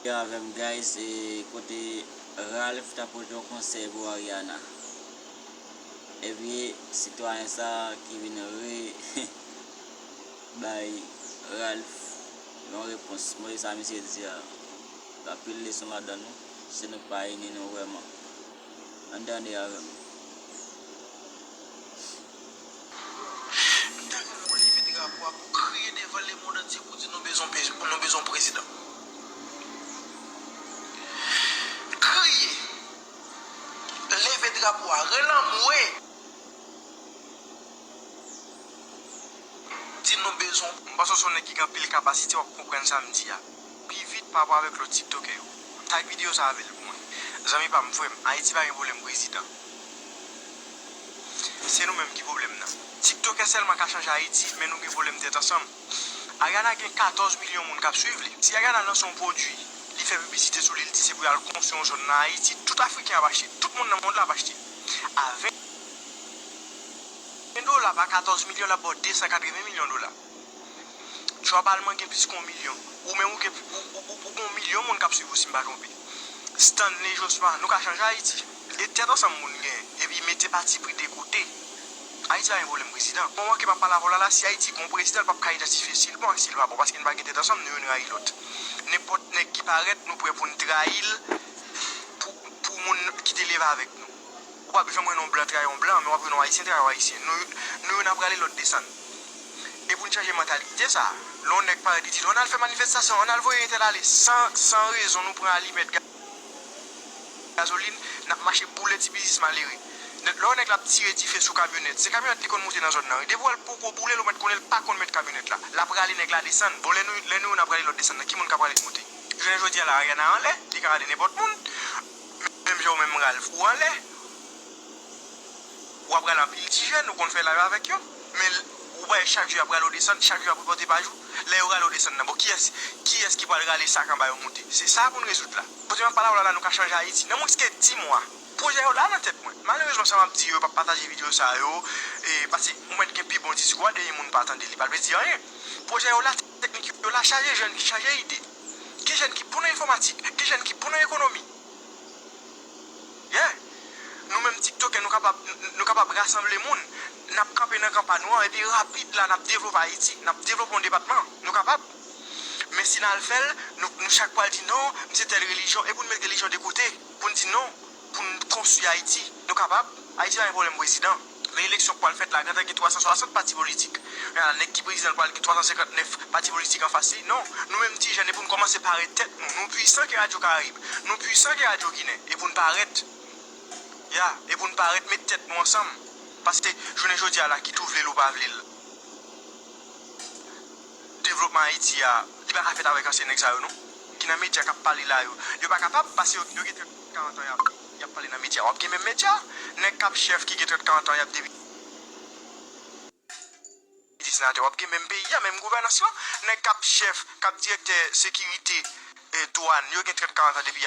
Yo avèm guys e kote Ralph ta pote yon konsèy pou Ariana epi sitwayen sa ki vin re bay Ralph yon repons mwen sa misye di a gen anpil leson ladan nou si nou pa ini nou vrèman ann tande avèm. M ta renmen w leve drapo a pou kriye devan lemond antye pou di nou bezwen yon prezidan. Kriye. Leve drapo a. Rele anmwe. Di nou bezwen. M panse w se yon nèg ki gen anpil kapasite w ap konprann sa m di a. Pi vit parapò avèk lòt tiktoker yo. Tag video sa avèl pou mwen. Zanmi pam m frèm ayiti pa gen problèm prezidan se nou menm ki problèm nan tiktokè sèlman ka chanje ayiti men nou gen problèm tèt ansanm Ariana gen 14 milyon moun kap swiv li si Ariana lanse yon pwodwi li fè piblisite sou li li di se pou yal konstwi yon zòn nan ayiti tout afriken ap achte tout moun nan mond la ap achte a 20 dola pa 14 milyon lap baw 280 milyon dola. Trap alman gen plis ke yon milyon. Ou menm ou gen yon milyon moun kap swiv ou si m pa twonpe. Stanley Josma, nou ka chanje Ayiti. E tèt ansanm moun gen. Epi mete patipri de kote. Ayiti pa gen pwoblèm prezidan. Mwen manke pa pale avè w la la, si Ayiti gen yon prezidan l pap ka idantifye si l bon ak si l pa bon paske n pa gen tèt ansanm nou youn rayi lòt. Nenpòt nèg ki parèt nou prè pou n trayi l pou moun ki te leve avèk nou. Ou pap janm wè non blan trayi yon blan men wap wè non ayisyen trayi yon ayisyen nou yo nan prale lòt desann e poun chanje mantalite sa lè yon nèg parèt li di nou ann al fè manifestasyon ann al voye entèl ale san san rezon nou pran alimèt gazolin nap mache boule ti biznis malere lè yon nèg lap tire dife sou kamyonèt se kamyonèt li konn moute nan zòn nan wi depi wèl poko boulel ou mèt konnenl pa konn mèt kamyonèt la la prale nèg la desann bon lè nou yo nan prale lòt desann nan ki moun ka prale moute jounen jodi a la Ariana anlè li ka rale nenpòt moun. Menm jan ou menm Ralph ou anlè ou ap rale anpil ti jèn ou konn fè live avèk yo men ou bay chak jou yap rale ou desann chak jou yap repote pa jou lè yo rale ou desann nan bon kiyès kiyès ki pral rale sak anba yo moute se sa pou n rezoud la kote map pale avèw la nou ka chanje Ayiti nan mwens ke 10 mwa pwojè yo la nan tèt mwen malerezman sa map di yo yo pap pataje video sa yo e pase ou mèt gen pi bon diskou a dèyè moun pa tande li pa vle di anyen pwojè yo la teknik yo la chaje jèn chaje ide. Gen jèn ki bon nan enfòmatik, gen jèn ki bon nan ekonomi. Yeah! Nou menm tiktokè nou kapab nou kapab rasanble moun, n ap kanpe nan kan pa nou an epi rapid la n ap devlope Ayiti, n ap devlope yon depatman. Nou kapab. Men si n al fè l, nou nou chak pral di non, m se tèl relijyon e pou n met relijyon de kote, pou n di non, pou n konstwi Ayiti. Nou kapab. Ayiti pa gen pwoblèm prezidan. Nan eleksyon k pwal fèt la gentan gen 360 pati politik. Ala nèg ki prezidan l pwal gen 359 pati politik anfas li. Non, nou menm ti jèn e pou n kòmanse pare tèt nou. Nou pwisan ke radyo karayib. Nou pwisan ke radyo ginen. E pou n parèt. Ya, e pou n parèt met tèt nou ansanm. Paske jounen jodi a la kit ou vle l ou pa vle l devlopman Ayiti a li pa ka fèt avèk ansyen nèg sa yo non. Ki nan medya k ap pale la yo. Yo pa kapab paske yo gen trèt 40 an y ap. Yap pale nan media. Wap gen menm media? Nèg kap chèf ki gen 30 40 ans yap depite senatè wap gen menm peyi a menm gouvènans lan nèg kap chèf kap direktè sekirite douane yo gen 30 40 ans depi